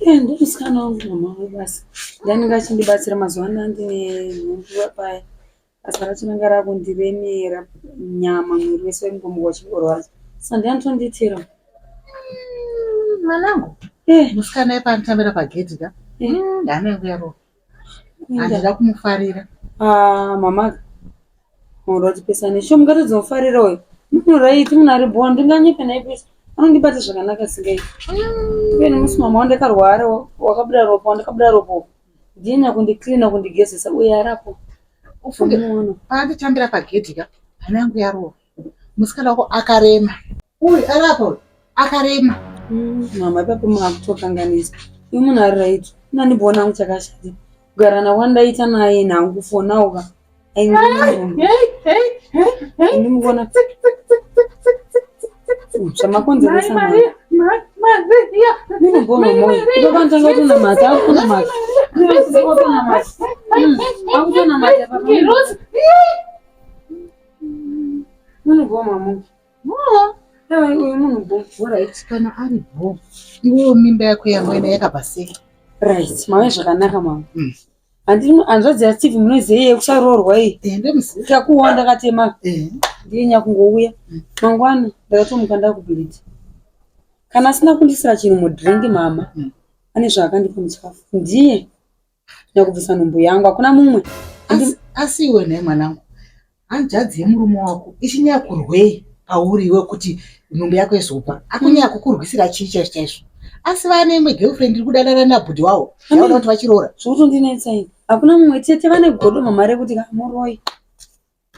Eh, ndiri musikana wangu mama wangu basi ndainenge achindibatsira mazuva ano andine nhumbuva paya basa racho ranga rakundiremera nyama mwiri wese waingomuka uchingorwadza sa ndianotonditira mwanangu eh. musikana yepanotambira pagedhi ka eh. mm, ndaanenge yaroa handida kumufarira ah, mama mauro atipesane sho mungatadzi mufarira uyo munoraiti munhu ari bhona ndinganyepe naipesa anondibata zvakanaka singai iveni musi mama wandakarwara wakabuda ropa wandakabuda ropo ndina kundicleana kundigezesa uye arapo ufunge paanditambira pagedhi ka hana yangu yarova musikana wako akarema Uyu ari apa uyu akarema. Mm, mama ipapo makutokanganisa. Uyu munhu ari right. Unandibona wangu chakashata. Kugara na wandaita naye nangu kufona uka. Ndimugona. Zvamakonzeresa mama. Ndinogona mwoyo. Ipapo ndanga tona mata, akuna mata. Akuna mata. Akuna mata. munhu bhobho right kana ari bho iwewo mimba yako yamwena yakabva sei right mave zvakanaka mama mm. hanzvadzi yasteve munoziva iye kusaroorwa iyi takuona ndakatema ndiye nyakungouya mm. mangwana ndakatomuka ndakubhiriti kana asina kundisira chinhu mudrink mama mm. ane zvaakandipa muchikafu ndiye Nda kubvisa nhumbu yangu hakuna mumwe. Asi iwe nhai mwanangu. Hanzvadzi yemurume wako ichinyaya kurwei pauri iwe kuti nhumbu yako izopa. Akunyaya kukurwisira chii chaizvo chaizvo. Asi vane imwe girlfriend iri kudanana nabhudhi wawo. Yaona kuti vachiroora. Zvokutondinetsa ini. Hakuna mumwe tete vane godo mama rekuti muroyi.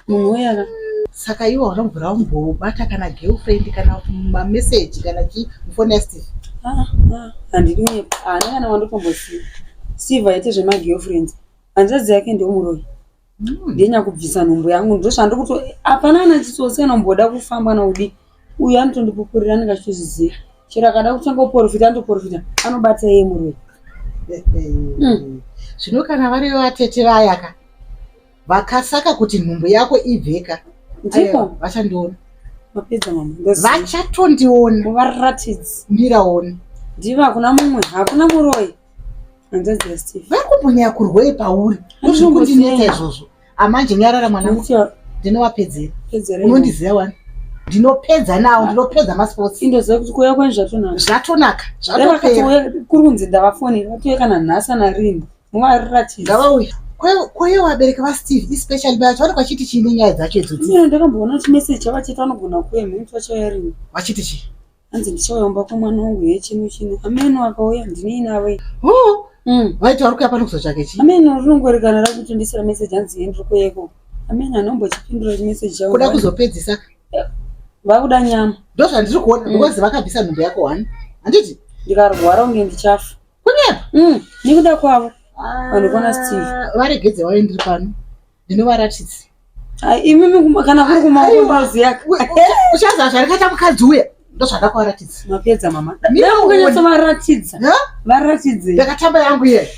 munhu uya saka iwe wanombura umbobata kana girlfriend kana mameseji kana chii mufoni yasteve ah, ah, handidi kunyepa haana kana wandotombosiva steve aite zvemagirlfriends hanzvadzi yake ndomuroyi hmm. ndenyakubvisa nhumbu yangu ndosvandi kuti hapana ana chitsotsi kana umboda kufamba naudi uyu anotondipupurira anenge achitozviziva chero akada kutanga kuporofita anotoporofita anobata iye muroyi eh, eh, eh. Hmm. zvino kana variyo vatete vayaka vakasaka kuti nhumbu yako ibveka ndimo vachandiona vapedza mama vachatondiona varatidzi miraona ndivo hakuna mumwe hakuna muroyi hanzvadzi yasteve vari kumbonya kurwei pauri ndozvikundineta izvozvo amanje nyarara mwana ndinowapedzera unondiziva wani ndinopedza nawo ndinopedza masports indoziva kuti kuuya kweni zvatonaka zvatonaka zvatopera kuri kunzi ndavafonera vatouya kana nhasi anarini Mwari ratidza. Ngavauye. Kwaye vabereki vaSteve especially bacho vanenge vachiti chii nenyaya dzacho idzo? Mira ndakamboona chimessage chavo chiti vanogona kuuya mheni vachayarini. Vachiti chii? Hanzi ndichauya kumba kwemwana wangu ye chino chino. Ameno akauya ndinei navo. Oh. Mm. Vaiti vari kuya pano kuzotsvake chii? Ameno rinongorekana rakutondisira message hanzi yeni riko yeko. Ameno anombochipindura chimessage chavo. Kuda kuzopedzisa. Eh, vakuda nyama. Ndozvandiri kuona mm. because vakabvisa nhumbu yako one. Handiti? Ndikarwara unge ndichafa. kunyepa mm, nekuda kwavo ah, vanhu kona steve varegedze waye ndiri pano ndinovaratidzi ah, imimi kana kuri kumaozi yake uchaziva zvarikaita mukadzi uya ndozvada kuvaratidza mapedza mama ndakukanyatsa varatidza varatidze ndakatamba yangu iye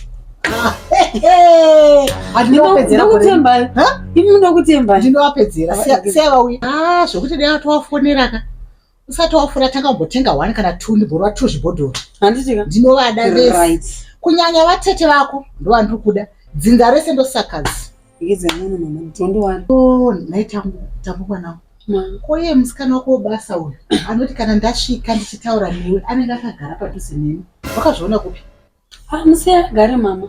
ndokutembai imi ndokutembai ndinovapedzera sevauya ah, zvokuti ndeyatovafonera ka usati wafura tanga umbotenga one kana two ndiborwa two zvibhodhoro handitika ndinovada vese kunyanya vatete vako ndovandiri kuda dzinza rese ndosakadzi oh, nhai tambukwanao koye musikana wako webasa uyu anoti kana ndasvika ndichitaura newe anenge akagara padhuze neni wakazviona kupi Ah, musiya agare mama.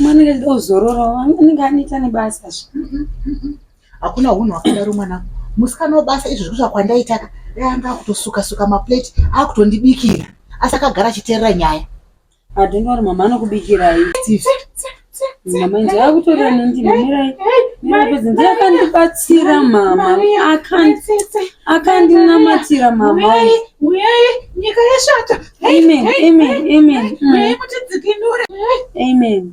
Mama anenge achida kuzorora, anenge aneta nebasa. Hakuna hunhu hwakadaro mwana. Musikana webasa izvi zvekuti kwandaita ka. Dai anga akutosuka suka maplate, akutondibikira. Asi akagara achiteerera nyaya. Adonori mama anokubikirai. Steve. mama nje akutorira nendimi mirai mirai ndiye akandibatsira mama akandinamatira mama uyai nyika yashata amen amen amen mm. uyai mutidzikinure amen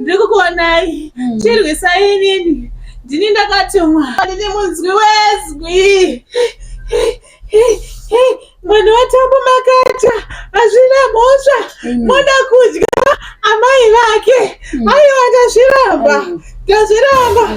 ndiri kukuonai mm. chirwisai inini ndini ndakatumwa ndini munzwi wezwi mwana watambo makata hazvina mhosva mm. moda kudya amai vake mm. aiwa ndazviramba ndazviramba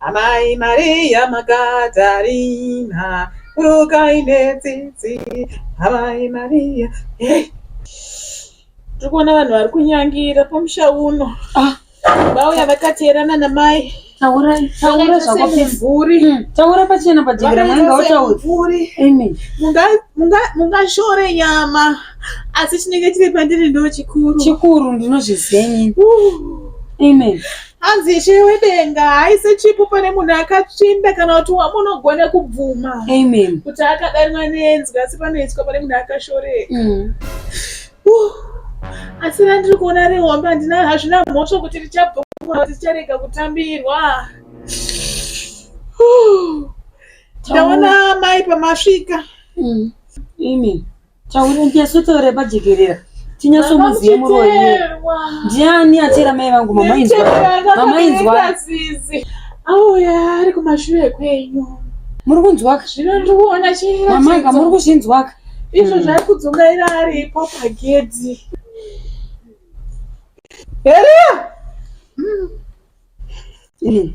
Amai Maria Magadarina, burukai netsitsi. Amai Maria, hey. tiri kuona vanhu vari kunyangira pamusha uno ah. vauya vakateerana namai taura hmm, pachena pajekera mwanenge wautauri mungashore nyama asi chinenge chiri pandiri ndo chikuru chikuru ndinozviziva nyini amen uh. hanzi ishe wedenga haise chipo pane munhu akatsvinda kana kuti wamunogona kubvuma amen kuti akadanwa nenzi asi panoiswa pane munhu akashoreka mm. uh, asi randiri kuona rehombe handina hazvina mhosva kuti richabvuma kuti richarega kutambirwa uh, ndaona mai pamasvika mm. amen Taure ndiaso taure pajekerera. Tinyaso muziye muroyi. Ndiani atira mai vangu mama inzwa. Mama inzwa. Auya ari kumashure kwenyu. Muri kunzwa? Zvino ndiri kuona chii? Mama ka muri kuzvinzwa ka? Izvo zvave kudzungaira aripo pagedhi. Heria! Mm. Mm.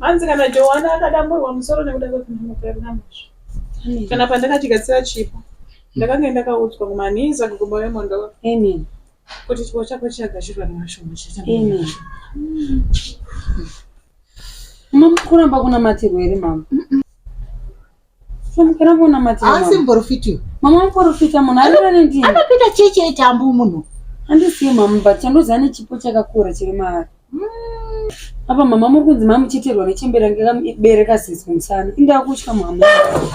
Hanzi kana Joana akadamburwa musoro nekuda kwekunhamo kwaive namazvo. Kana pandakati gadzira chipo, ndakange ndakaudzwa kumanhiza kuGomba weMondoro kuti chipo chako chakagadzirwa nemashoma chete. Mama, kuramba kunamatirwa here mama? Famukira mwana mati. Asi mporofiti. Mama mporofita munhu arira nendii. Anopita cheche eti ambu munhu. Andisiye mama but chandozi ane chipo chakakura chiri maari. Hmm. Apa mama muri kunzi mama mucheterwa nechembere range kabereka sisi kumusana. Inda kutya mama.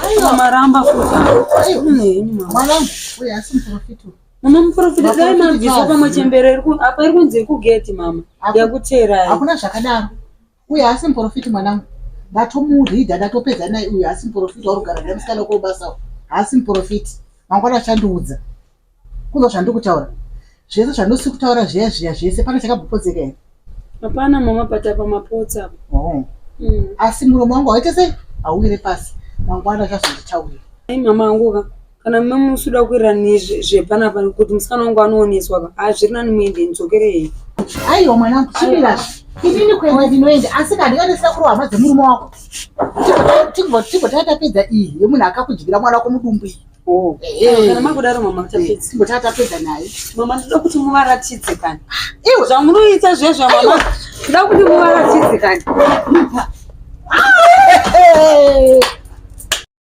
Aiwa maramba futi. Aiwa neni mama. Mwana uyu asi mporofiti. Mama mporofita dai mabvisa pamwe chembere apa iri kunzi iri kugeti mama. Yakuteerai. Hakuna zvakadaro. Uyu haasi muporofiti mwanangu, ndatomuridha ndatopedza naye. Uyu haasi muporofiti warugara naye musikana wako webasa, haasi muporofiti. Mangwana achandiudza kuno zvandiri kutaura zvese zvandosiri kutaura zviya zviya zvese, pane chakabopodzeka here? Hapana mama, pata pamapotsa apo. Oh. Mm. Asi muromo wangu waite sei? Hauwire pasi, mangwana achazonditaurira. Ai mama anguka kana mumwe musi uda kuwirirana nezvepanapa kuti musikana wangu anooneswa ka a zviri nani muende ndidzokerei aiwa mwanangu chimira inini kuenda ndinoenda asi ka ndingaita sekuru hama dzemurume wako timboti tatapedza iyi yemunhu akakudyira mwana wako mudumbu iyi oh. kana makudaro mama timboti tatapedza naye mama ndoda kuti muvaratidze kani ah, iwe zvamunoita zvezvo mama ndoda kuti muvaratidze kani ah,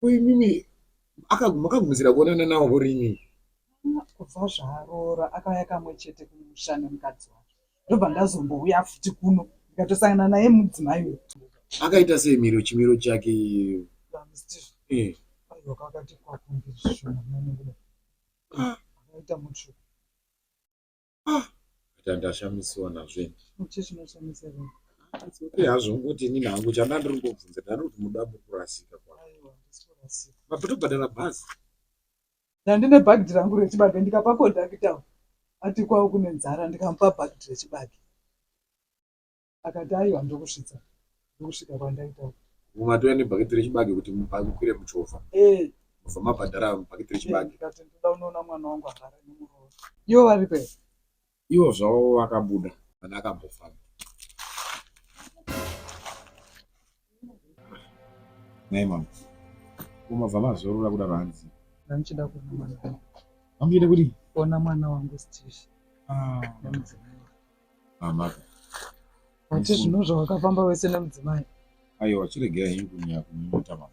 ko imimi makagumisira kuonana nawo hori imimi kubva zvaaroora akauya kamwe chete kumusha nemukadzi wake ndobva ndazombouya futi kuno ndikatosangana naye mudzimai uyu akaita sei miro chimiro chake eh. akaita mutsvuku ah but ndashamiswa nazve chichinashamisa vanhu okay hazvo ngokuti inini hangu chanda ndiri kungobvunza ndani kuti muda mukurasika kwa aiwa ndisitorasika mabhitobhadhara bhazi ndandine bhagidhi rangu rechibage ndikapa kondakita ati kwavo kune nzara ndikamupa bhagidhi rechibage akati aiwa ndokusvitsa ndokusvika kwandaita mumatouya nebhaketi rechibage kuti mukwire muchovha eh. mobva mabhadhara bhaketi eh, rechibage ndikati ndoda unoona mwana wangu agara nemuroora ivo vari pe ivo zvavo vakabuda kana akambofamba Nei mama? Kumabva mazorora kudaro hanzi. Ndanichida kuona mwana wangu. Amuyida kuti? Kuona mwana wangu Steve. Ah. Nemudzimai. Ah, maka. Wati zvino zvawakafamba wese nemudzimai. Aiwa, chiregerai henyu kunyaya kumuita mama.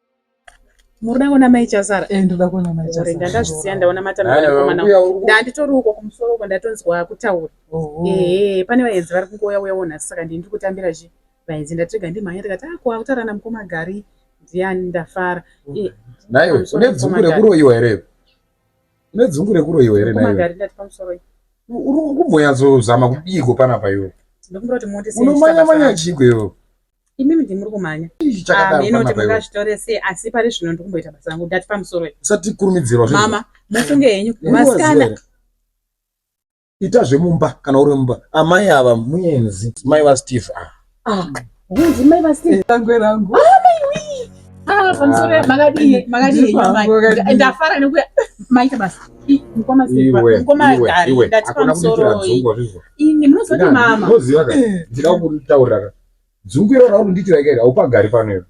Murikuda kuona mai chasara? Eh, ndoda kuona mai chasara. Ndanga ndazvisiya ndaona matamira komana. Ndanditori uko kumusoro uko ndatonzwa kutaura. Eh, pane vaenzi vari kungoya uya wona saka ndini ndikutambira zvi. Vaenzi ndatirega ndimhanya ndikati ah kwa kutaura na mukoma gari. Ndiyani ndafara. Eh, nayo une dzungu rekuroyiwa here? Une dzungu rekuroyiwa here nayo? Magari ndati pamusoro. Uri kumboyazozama kudiko panapa iwe? Ndokumbira kuti muone sei. Unomanya manya chigwe iwe. imimi ndimuri kumhanya mhino kuti mungazvitore sei asi pari zvino ndikumboita basa rangu ndati pamusoro usati kurumidzirwa mama mufunge henyu masikana ita zvemumba kana uri mumba amai ava muenzi mai vasteve ava ah, hunzi mai vasteve tangwe rangu ah, ah, pamusoro makadii makadii ndafara nekuya maita basa mukoma Dzungu iro raunondiitira ikairi haupagari pano iwe.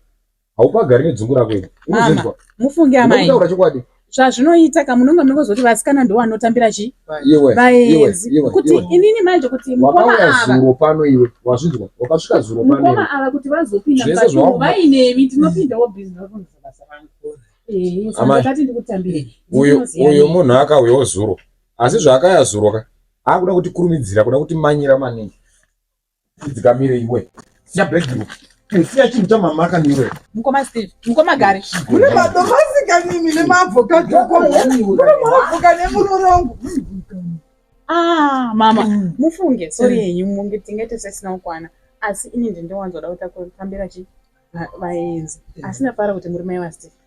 Haupagari nedzungu rako iri. Unozonzwa. Mufunge amai. Unotaura chokwadi. Zvazvinoita ka munonga munonga zoti vasikana ndo vanotambira chi? Iwe. Vaenzi. Iwe. Kuti inini manje kuti mukoma ava. Wakauya zuro pano iwe. Wazvinzwa. Wakasvika zuro pano. Mukoma ava kuti vazopinda mukati umo vainemi tinopindawo business rako ndizobasa vangu. Eh, saka ndakati ndikutambire. Uyo uyo munhu akauyawo zuro. Asi zvaakaya zuro ka. Akuda kuti kurumidzira, kuda kuti manyira maningi. Chidzikamire iwe. Siya bag iwe. Siya chinhu chamamaka niwe. Mukoma Steve, mukoma Gari. Kune madomasi kanini nemaavocado ko. Kune maavocado nemurorongo. Ah, mama, mm. mufunge sorry yenyu munge tinge tisisina kukwana. Asi ini ndindowanzoda kutambira chi vaenzi. Asi ndafara kuti muri mai vaSteve.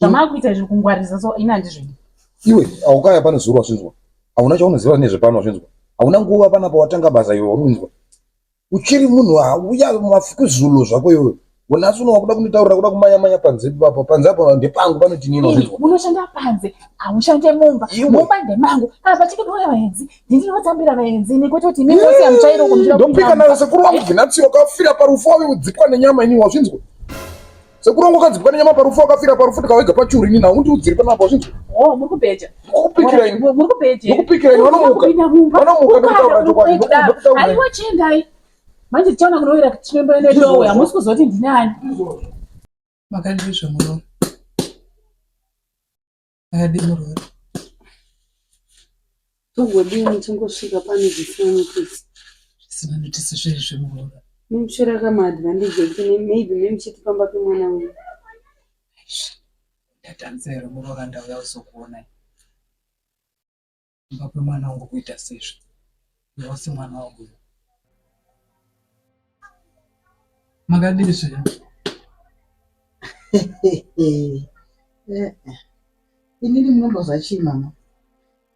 zvamaakuita izvi kungwarisa so ini handizvidi iwe aukaya pane zuro wazvinzwa hauna chaunoziva nezvepano wazvinzwa hauna nguva pana pawatanga basa iwe warunzwa uchiri munhu auya mafukuzulo zvako iwe unasi uno wakuda kunditaurira kuda kumanya manya panze papo panze apo ndepangu panotinini wazvinzwa unoshanda panze haushande mumba mumba ndemangu kana pachike doya vaenzi ndinotambira vaenzi nekuti kuti mimi wose amuchairo kumira ndopika nayo sekuru wangu vinatsiwa kafira parufu wave kudzipwa nenyama ini wazvinzwa Sekuru wangu akadzi pane nyama parufu akafira parufu tikawega pachuru ini nhau ndiudziri panapa zvinzi. Oh muri kubeja. Mukupikira ini. Muri kubeja. Mukupikira ini vanomuka. Vanomuka ndokutaura chokwadi. Aiwa chendai. Manje tichaona kunowira chimembe ende lowe hamusi kuzoti ndinani. Makandizve muno. Haadi murwere. Togodini tongosvika pane zvisanitisi. Zvisanitisi zvezvi murwere. Muchira kama advantage ekine maybe memuchiti pamba pemwana uyu. Ndatanzero murwere ndauya uzokuona. kumba kwemwana wangu kuita sezvo iwo semwana wangu makadini zvino inini munomboza chii mama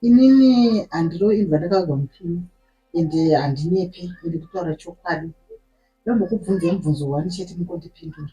inini handiro imbwa ndakagwa mupini ende handinyepe ende kutaura chokwadi ndombokubvunza mubvunzo wani chete mukondipindura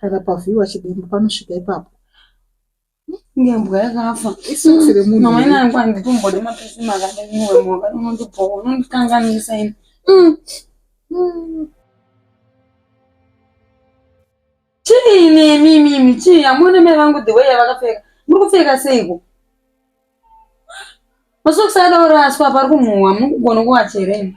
kana pavhiiwa chidembo panosvika ipapo ngembwa yakafa isisi remunhu mama ina yangu anditombode mapisi makadai iwe mhaka unondibhowa unondikanganisa ini mm. mm. chii nemi imimi chii hamuone mai vangu the way yavakapfeka muri kupfeka seiko masokisi adaoraswa pari kumhuhwa muri kugona kuvachereni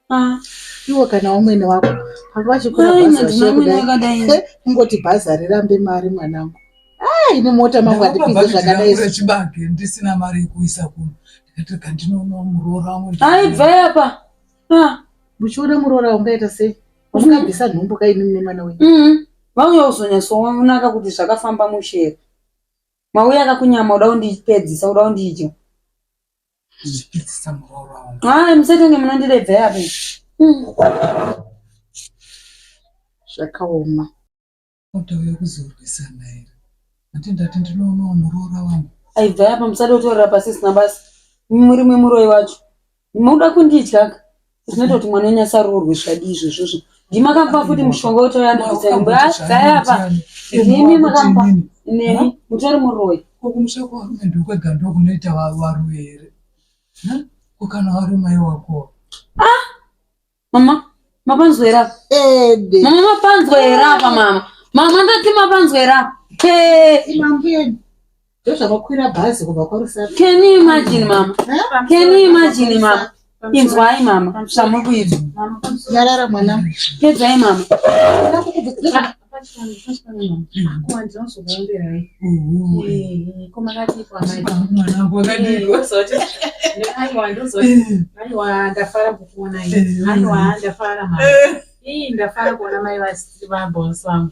Ah, iwo kana umwene wako panga vachikura bhazi kungoti bhazi harirambe mari mwanangu ah, ini mota mangu handipinze zvakadairechibage ndisina mari yekuisa kuno ndikati kandinoona muroora wangu aibvai apa ah. muchiona muroora ungaita sei wamungabvisa mm-hmm. nhumbu kaini mune mwana wenyu mm-hmm. vauya kuzonyatsoonaka kuti zvakafamba mushero mauya akakunyama uda kundipedzisa uda kundidya Haa musatenge munondirebva yapi. Hmm. Zvakaoma. Oda uya kuzorwisana here. Ati ndati ndinoonawo muroora wangu. Aibva yapa musada kutorera pasisina basa. Muri mwe muroyi wacho. Munoda kundidya ka. zvinoita kuti mwana wenyu asaroorwe zvadii izvozvozvo ndimi makamupa futi mushonga wetoyandisaimbaaapa ndimi makamupa nemi mutori muroyi kokumusha kwarumendi kwega ndokunoita varume here kokana warumai wako ah! mama mapanzwa here apa mama mapanzwa here apa mama mama ndati mapanzwa here apa Ndozvakakwira bhazi kubva kwaRusape. Can you imagine mama? Eh? Can you imagine mama? Inzwai mama zvamuri kuita. Nyarara mwana. Pedzai mama. Ndafara kuona mai vabhosi vangu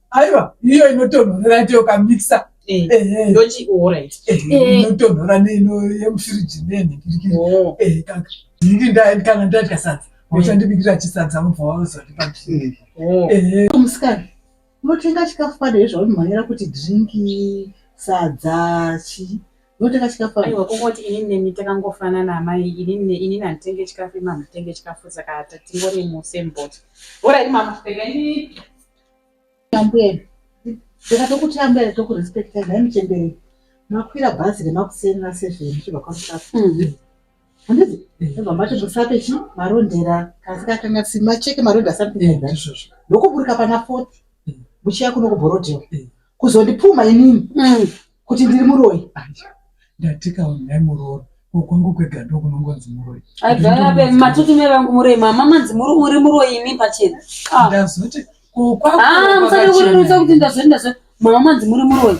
aiwa iyo inotonhorera ito yokamikisa eh, eh. ndochi orit eh, inotonhora neino yemufiriji nenhikirikiri oh. ndingi ndaendi kana ndadya sadza ochandibikira chisadza mubva waozatipamusikana unotenga chikafu padai zvaunomhanyira kuti drinki sadza chi unotenga chikafu aiwa kungoti inini nemi takangofanana amai inini inini handitenge chikafu imamutenge chikafu saka tatingori musembot orit mama tenga inini Ambuya ndakatokuti ambuya tokurespectai nhai muchembere makwira bhazi remakuseni raseven chibva kwamusafa mhm. handiti ndobva mati musape chi marondera kasi kakanga si macheke marondera something like that ndokuburika pana forty muchiya kuno kubhorodhewa kuzondipfuma inini mm. kuti ndiri muroyi ndatikaonai muroora kwangu kwega ndo kunongonzi muroyi aigarabe matutu mevangu muroyi mama manzi muri muri muroyi imi pachena ah. ndazoti kukwamusadikurerutsa ah, kuti ndazoti ndazoti mama manzi muri muroyi